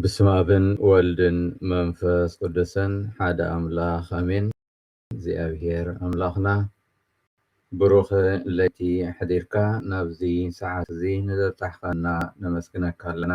ብስመ ኣብን ወልድን መንፈስ ቅዱስን ሓደ ኣምላኽ ኣሜን። እግዚኣብሔር ኣምላኽና ብሩኽ ለይቲ ኣሕዲርካ ናብዚ ሰዓት እዚ ንዘብጻሕካና ነመስግነካ ኣለና።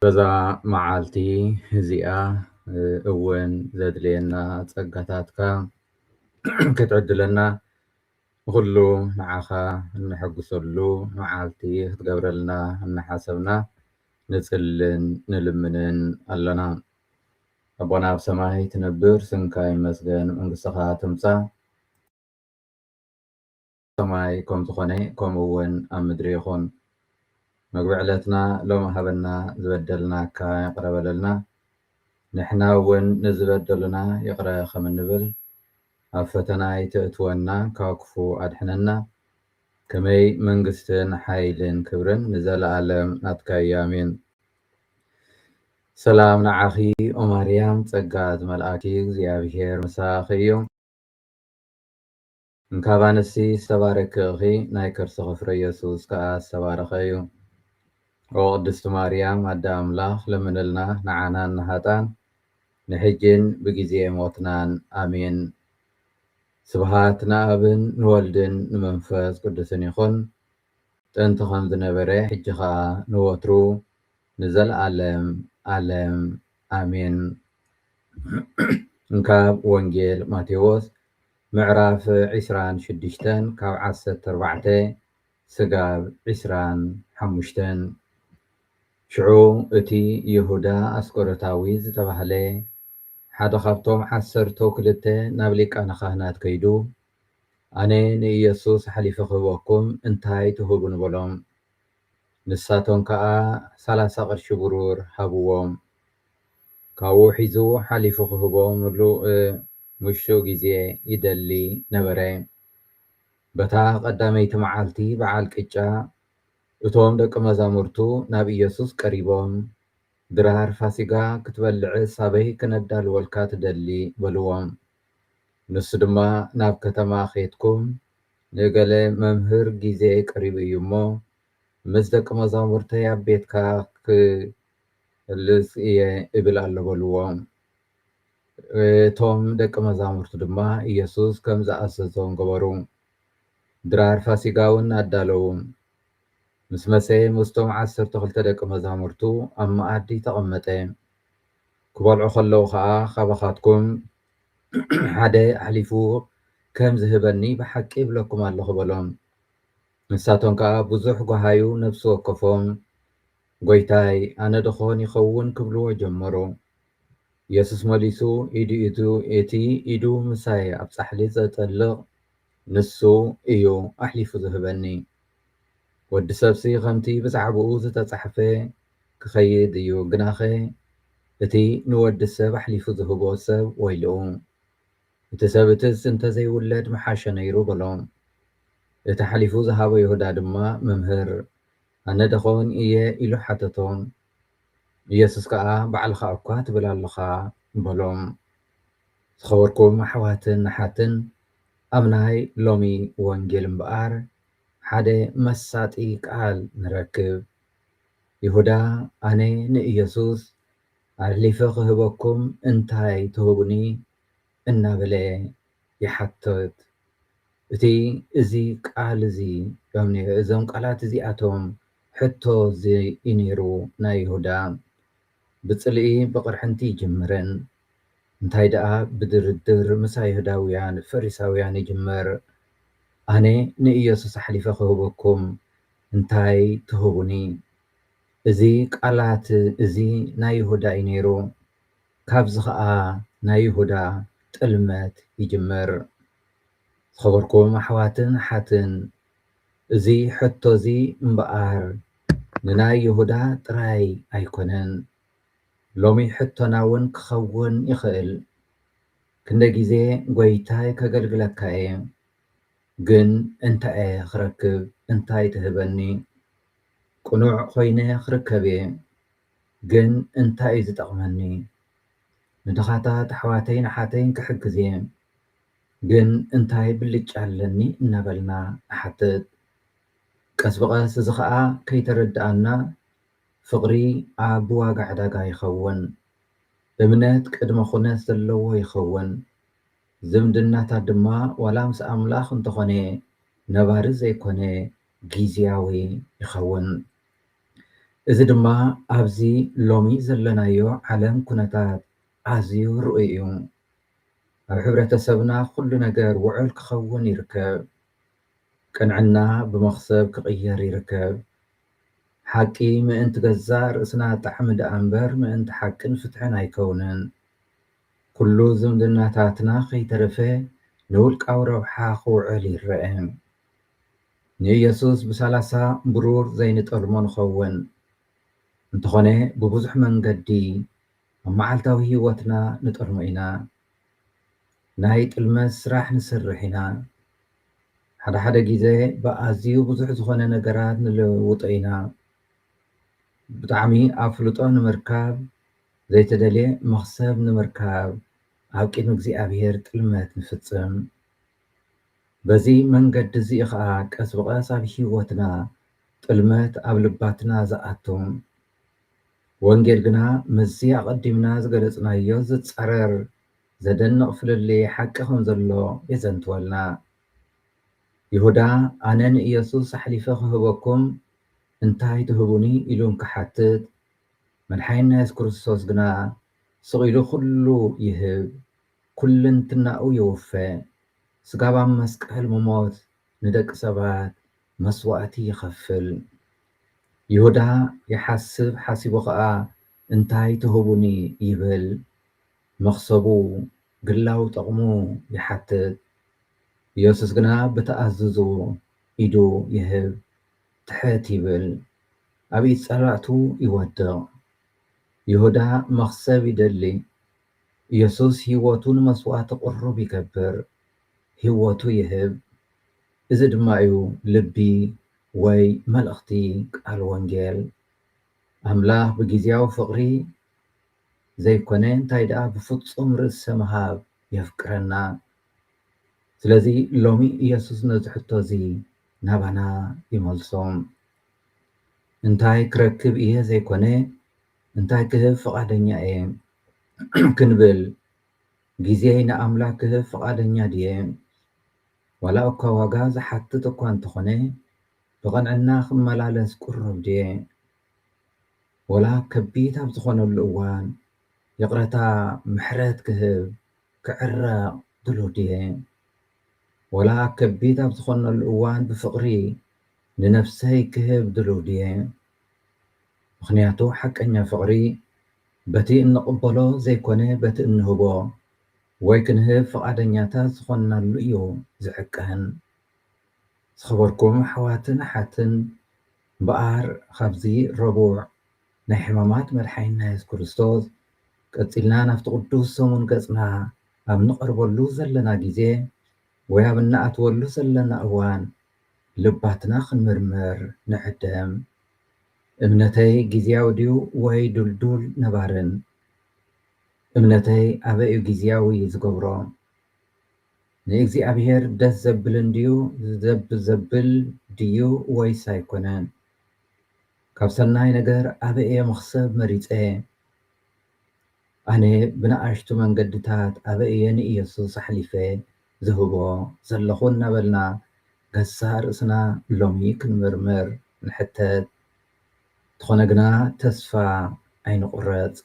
በዛ መዓልቲ እዚኣ እውን ዘድልየና ጸጋታትካ ክትዕድለና ንኹሉ ንዓኻ እነሐጉሰሉ መዓልቲ ክትገብረልና እናሓሰብና ንጽልን ንልምንን ኣሎና። ኣቦና ኣብ ሰማይ ትነብር ስምካ ይመስገን መንግስትኻ ትምጻእ ሰማይ ከም ዝኾነ ከምኡ እውን ኣብ ምድሪ ይኹን። መግቢ ዕለትና ሎሚ ሃበና ዝበደልናካ ይቕረ በለልና ንሕና እውን ንዝበደሉና ይቕረ ከም እንብል ኣብ ፈተና ኣይተእትወና ካብ ክፉ ኣድሕነና ከመይ መንግስትን ሓይልን ክብርን ንዘላኣለም ናትካዩ ኣሜን። ሰላም ንዓኺ ኦማርያም ጸጋ ዝመልኣኪ እግዚኣብሄር ምሳኺ እዩ። እንካብ ኣንስቲ ዝተባረኪ እኺ ናይ ከርስኺ ፍረ የሱስ ከኣ ዝተባረኸ እዩ። ኦ ቅድስቲ ማርያም ኣደ ኣምላኽ ለምንልና ንዓናን ንሃጣን ንሕጂን ብጊዜ ሞትናን ኣሜን ስብሃት ንኣብን ንወልድን ንመንፈስ ቅዱስን ይኹን ጥንቲ ከም ዝነበረ ሕጂ ከኣ ንወትሩ ንዘልኣለም ኣለም ኣሜን ካብ ወንጌል ማቴዎስ ምዕራፍ ዕስራን ሽዱሽተን ካብ ዓሰርተ ኣርባዕተ ስጋብ ዕስራን ሓሙሽተን። ሽዑ እቲ ይሁዳ ኣስቆሮታዊ ዝተባህለ ሓደ ኻብቶም ዓሰርተው ክልተ ናብ ሊቃነ ኻህናት ከይዱ፣ ኣነ ንኢየሱስ ሓሊፈ ኽህበኩም እንታይ ትህቡኒ? በሎም። ንሳቶም ከኣ ሰላሳ ቕርሺ ብሩር ሃብዎም። ካብኡ ሒዙ ሓሊፉ ኽህቦም ንልሙሽትኡ ጊዜ ይደሊ ነበረ። በታ ቐዳመይቲ መዓልቲ በዓል ቅጫ፣ እቶም ደቀ መዛሙርቱ ናብ ኢየሱስ ቀሪቦም፣ ድራር ፋሲጋ ክትበልዕስ ኣበይ ክነዳልወልካ ትደሊ? በልዎም። ንሱ ድማ ናብ ከተማ ኼድኩም፣ ንእገለ መምህር፣ ጊዜይ ቀሪቡ እዩ እሞ፣ ምስ ደቀ መዛሙርተይ ኣብ ቤትካ ኽህልስ እየ እብል ኣሎ በልዎም። እቶም ደቂ መዛሙርቱ ድማ ኢየሱስ ከም ዝኣዘዞም ገበሩ። ድራር ፋሲጋ እውን ኣዳለዉ። ምስ መሰየ ምስቶም ዓሰርተ ክልተ ደቂ መዛሙርቱ ኣብ መኣዲ ተቐመጠ። ክበልዑ ከለዉ ኸኣ ኻባኻትኩም ሓደ ኣሕሊፉ ከም ዝህበኒ ብሓቂ እብለኩም ኣለኹ በሎም። ንሳቶም ከኣ ብዙሕ ጐሃዩ ነፍሲ ወከፎም ጐይታይ፣ ኣነ ድዀን ይኸውን? ኪብልዎ ጀመሩ። የሱስ መሊሱ፣ ኢዱ ኢቱ እቲ ኢዱ ምሳይ ኣብ ጻሕሊ ዜጠልቕ፣ ንሱ እዩ ኣሕሊፉ ዚህበኒ። ወዲ ሰብሲ ኸምቲ ብዛዕባኡ ዝተጻሕፈ ኪኸይድ እዩ፣ ግናኸ እቲ ንወዲ ሰብ ኣሕሊፉ ዚህቦ ሰብ ወይልኡ። እቲ ሰብ እቲስ እንተ ዘይውለድ ምሓሸ ነይሩ በሎ። እቲ ኣሕሊፉ ዝሃቦ ይሁዳ ድማ፣ መምህር፣ ኣነ ደኾን እየ ኢሉ ሓተቶም። ኢየሱስ ከኣ ባዕልኻ እኳ ትብል ኣሎኻ በሎም። ዝኸበርኩም ኣሕዋትን ኣሓትን ኣብ ናይ ሎሚ ወንጌል እምበኣር ሓደ መሳጢ ቃል ንረክብ። ይሁዳ ኣነ ንኢየሱስ ኣሕሊፈ ክህበኩም እንታይ ትህቡኒ እናበለ ይሓትት። እቲ እዚ ቃል እዚ እዞም ቃላት እዚኣቶም ሕቶ ዘይነይሩ ናይ ይሁዳ ብጽልኢ ብቕርሕንቲ ይጅምርን እንታይ ደኣ ብድርድር ምስ ኣይሁዳውያን ፈሪሳውያን ይጅምር ኣነ ንኢየሱስ ኣሕሊፈ ክህበኩም እንታይ ትህቡኒ እዚ ቃላት እዚ ናይ ይሁዳ እዩ ነይሩ። ካብዚ ከኣ ናይ ይሁዳ ጥልመት ይጅምር። ዝኸበርኩም ኣሕዋትን ኣሓትን እዚ ሕቶ እዚ እምበኣር ንናይ ይሁዳ ጥራይ ኣይኮነን ሎሚ ሕቶና ውን ክኸውን ይኽእል ክንደይ ግዜ ጎይታይ ከገልግለካ እየ ግን እንታይ እየ ክረክብ እንታይ ትህበኒ ቅኑዕ ኮይነ ክርከብ እየ ግን እንታይ እዩ ዝጠቅመኒ ንድኻታት ኣሕዋተይን ኣሓተይን ክሕግዝ እየ ግን እንታይ ብልጫ ኣለኒ እናበልና ንሓትት ቀስ ብቀስ እዚ ከኣ ከይተረደኣና ፍቅሪ ኣብ ብዋጋ ዕዳጋ ይኸውን እምነት ቅድመ ኩነት ዘለዎ ይኸውን ዝምድናታት ድማ ዋላ ምስ ኣምላኽ እንተኾነ ነባሪ ዘይኮነ ጊዝያዊ ይኸውን። እዚ ድማ ኣብዚ ሎሚ ዘለናዮ ዓለም ኩነታት ኣዝዩ ርኡይ እዩ። ኣብ ሕብረተሰብና ኩሉ ነገር ውዑል ክኸውን ይርከብ። ቅንዕና ብመኽሰብ ክቕየር ይርከብ። ሓቂ ምእንቲ ገዛእ ርእስና ጣዕሚ ደኣ እምበር ምእንቲ ሓቅን ፍትሕን ኣይከውንን። ኩሉ ዝምድናታትና ከይተረፈ ንውልቃዊ ረብሓ ክውዕል ይረኣ። ንኢየሱስ ብሳላሳ ብሩር ዘይንጠልሞ ንኸውን። እንተኾነ ብብዙሕ መንገዲ ኣብ መዓልታዊ ሕይወትና ንጠልሞ ኢና። ናይ ጥልመት ሥራሕ ንሠርሕ ኢና። ሓደ ሓደ ጊዘ ብኣዝዩ ብዙሕ ዝኾነ ነገራት ንልውጦ ኢና። ብጣዕሚ ኣፍልጦ ንምርካብ፣ ዘይተደልየ መኽሰብ ንምርካብ ኣብ ቅድሚ እግዚኣብሔር ጥልመት ንፍጽም። በዚ መንገዲ እዚ ኸኣ ቀስ ብቐስ ኣብ ህይወትና ጥልመት ኣብ ልባትና ዝኣቱ፣ ወንጌል ግና ምስዚ ኣቐዲምና ዝገለጽናዮ ዝጻረር ዘደንቕ ፍልልይ ሓቂ ከም ዘሎ የዘንትወልና። ይሁዳ ኣነ ንኢየሱስ ኣሕሊፈ ኽህበኩም እንታይ ትህቡኒ ኢሉ እንክሓትት፣ መድሓኒና የሱስ ክርስቶስ ግና ስቕ ኢሉ ዅሉ ይህብ፣ ኩልንትናኡ የውፈ፣ ስጋብ ኣብ መስቀል ምሞት ንደቂ ሰባት መስዋእቲ ይኸፍል። ይሁዳ ይሓስብ ሓሲቡ ኸኣ እንታይ ትህቡኒ ይብል። መኽሰቡ ግላዊ ጠቕሙ ይሓትት። ኢየሱስ ግና ብተኣዝዙ ኢዱ ይህብ፣ ትሕት ይብል፣ ኣብ ኢድ ጸላእቱ ይወድቕ። ይሁዳ መኽሰብ ይደሊ፣ ኢየሱስ ሕይወቱ ንመስዋዕቲ ቅሩብ ይገብር፣ ሕይወቱ ይህብ፣ እዚ ድማ እዩ ልቢ ወይ መልእኽቲ ቃል ወንጌል። ኣምላኽ ብጊዜያዊ ፍቕሪ ዘይኮነ እንታይ ደኣ ብፍጹም ርእሰ ምሃብ የፍቅረና። ስለዚ ሎሚ ኢየሱስ ነዚ ሕቶ እዚ ናባና ይመልሶ። እንታይ ክረክብ እየ ዘይኮነ እንታይ ክህብ ፍቓደኛ እየ ክንብል፣ ግዜይ ንኣምላኽ ክህብ ፍቓደኛ ድየ? ዋላ'ኳ ዋጋ ዝሓትት እኳ እንተኾነ፣ ብቕንዕና ክመላለስ ቅሩብ ድየ? ወላ ኣብ ከቢድ ኣብ ዝኾነሉ እዋን ይቕረታ ምሕረት ክህብ፣ ክዕረቕ ድሉው ድየ? ወላ ኣብ ከቢድ ኣብ ዝኾነሉ እዋን ብፍቕሪ ንነፍሰይ ክህብ ድሉው ድየ? ምኽንያቱ ሓቀኛ ፍቕሪ በቲ እንቕበሎ ዘይኮነ በቲ እንህቦ ወይ ክንህብ ፍቓደኛታት ዝኾንናሉ እዩ ዝሕቀን። ዝኸበርኩም ኣሕዋትን ኣሓትን እምበኣር ኻብዚ ረቡዕ ናይ ሕማማት መድሓኒና የሱስ ክርስቶስ ቀጺልና ናብቲ ቅዱስ ሰሙን ገጽና ኣብ እንቐርበሉ ዘለና ግዜ ወይ ኣብ እንኣትወሉ ዘለና እዋን ልባትና ክንምርምር ንዕደም። እምነተይ ግዝያዊ ድዩ ወይ ድልዱል ነባርን? እምነተይ ኣበይ'ዩ ግዝያዊ ዝገብሮ? ንእግዚኣብሄር ደስ ዘብል እንድዩ ዘብ ዘብል ድዩ ወይስ ኣይኮነን? ካብ ሰናይ ነገር ኣበይ'የ መኽሰብ መሪጸ? ኣነ ብንኣሽቱ መንገድታት ኣበይ'የ ንኢየሱስ ኣሕሊፈ ዝህቦ ዘለኹ እናበልና ገዛእ ርእስና ሎሚ ክንምርምር ንሕተት። እንተኾነ ግና ተስፋ ኣይንቑረጽ።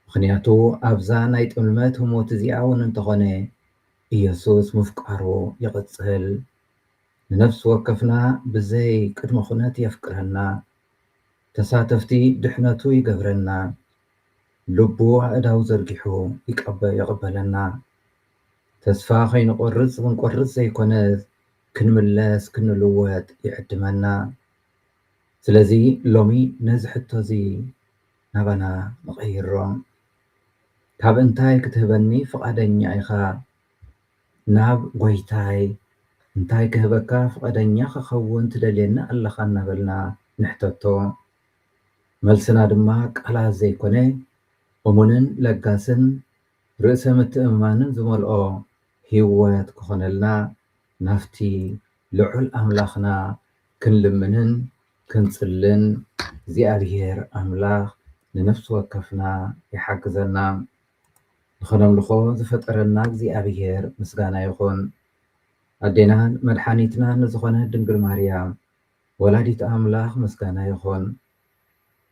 ምኽንያቱ ኣብዛ ናይ ጥልመት ህሞት እዚኣ እውን እንተኾነ ኢየሱስ ምፍቃሩ ይቕጽል። ንነፍሲ ወከፍና ብዘይ ቅድመ ኩነት የፍቅረና። ተሳተፍቲ ድሕነቱ ይገብረና። ልቡ ኣእዳው ዘርጊሑ ይቕበለና። ተስፋ ከይንቆርጽ ክንቆርጽ ዘይኮነስ ክንምለስ ክንልወጥ ይዕድመና። ስለዚ ሎሚ ነዚ ሕቶ'ዚ ናባና ንቐይሮ። ካብ እንታይ ክትህበኒ ፍቓደኛ ኢኻ ናብ ጎይታይ እንታይ ክህበካ ፍቐደኛ ክኸውን ትደልየኒ ኣለኻ እናበልና ንሕተቶ። መልስና ድማ ቃላት ዘይኮነ እሙንን ለጋስን ርእሰ ምትእምማንን ዝመልኦ ህይወት ክኾነልና ናብቲ ልዑል ኣምላኽና ክንልምንን ክንጽልን እግዚኣብሔር ኣምላኽ ንነፍሲ ወከፍና ይሓግዘና። ንኸነምልኾ ዝፈጠረና እግዚኣብሔር ምስጋና ይኹን። ኣዴናን መድሓኒትናን ንዝኾነት ድንግል ማርያም ወላዲት ኣምላኽ ምስጋና ይኹን።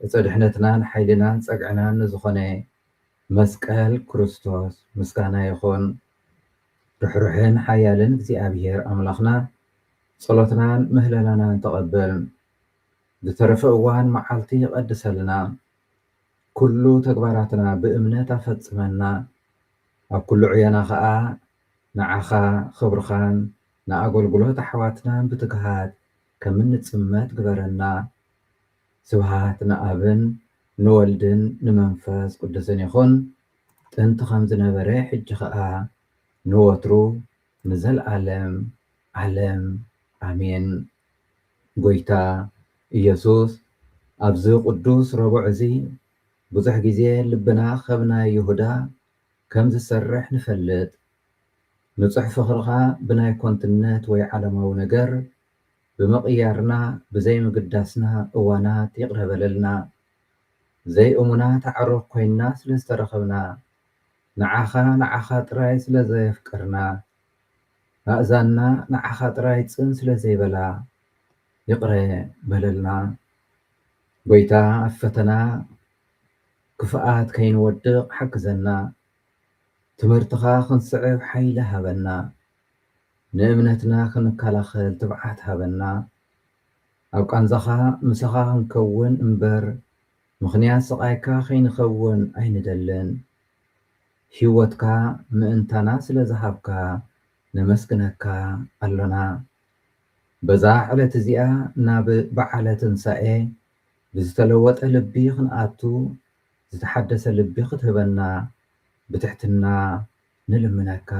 ዕፀ ድሕነትናን ሓይልናን ፀግዕናን ንዝኾነ መስቀል ክርስቶስ ምስጋና ይኹን። ርሕሩሕን ሓያልን እግዚኣብሄር ኣምላኽና ጸሎትናን ምህለላናን ተቐበል። ዝተረፈ እዋን መዓልቲ ቀድሰልና። ኩሉ ተግባራትና ብእምነት ኣፈጽመና። ኣብ ኩሉ ዕዮና ከኣ ንዓኻ ኽብርኻን ንኣገልግሎት ኣሕዋትናን ብትግሃት ከም እንጽመድ ግበረና። ስብሓት ንኣብን ንወልድን ንመንፈስ ቅዱስን ይኹን ጥንቲ ከም ዝነበረ ሕጂ ከኣ ንወትሩ ንዘልኣለም ዓለም ኣሜን። ጎይታ ኢየሱስ ኣብዚ ቅዱስ ረቡዕ እዚ ብዙሕ ግዜ ልብና ከም ናይ ይሁዳ ከም ዝሰርሕ ንፈልጥ ንጹሕ ፍኽርኻ ብናይ ኮንትነት ወይ ዓለማዊ ነገር ብምቕያርና ብዘይ ምግዳስና እዋናት ይቕረ በለልና ዘይ እሙናት ኣዕሩኽ ኮይንና ስለ ዝተረኸብና ንዓኻ ንዓኻ ጥራይ ስለ ዘየፍቀርና ኣእዛንና ንዓኻ ጥራይ ጽን ስለ ዘይበላ ይቕረ በለልና ጎይታ ኣብ ፈተና ክፍኣት ከይንወድቕ ሓግዘና ትምህርትኻ ክንስዕብ ሓይሊ ሃበና ንእምነትና ክንከላኸል ትብዓት ሃበና ኣብ ቃንዛኻ ምሳኻ ክንከውን እምበር ምኽንያት ስቓይካ ከይንኸውን ኣይንደልን ሂወትካ ምእንታና ስለ ዝሃብካ ነመስግነካ ኣሎና በዛ ዕለት እዚኣ ናብ በዓለ ትንሳኤ ብዝተለወጠ ልቢ ክንኣቱ ዝተሓደሰ ልቢ ክትህበና ብትሕትና ንልምነካ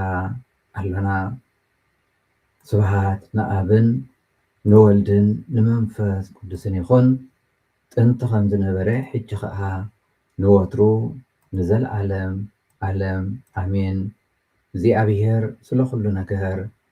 ኣሎና ስብሃት ንኣብን ንወልድን ንመንፈስ ቅዱስን ይኩን ጥንቲ ከም ዝነበረ ሕጂ ከኣ ንወትሩ ንዘልኣለም ኣለም ኣሜን እግዚኣብሄር ስለ ኩሉ ነገር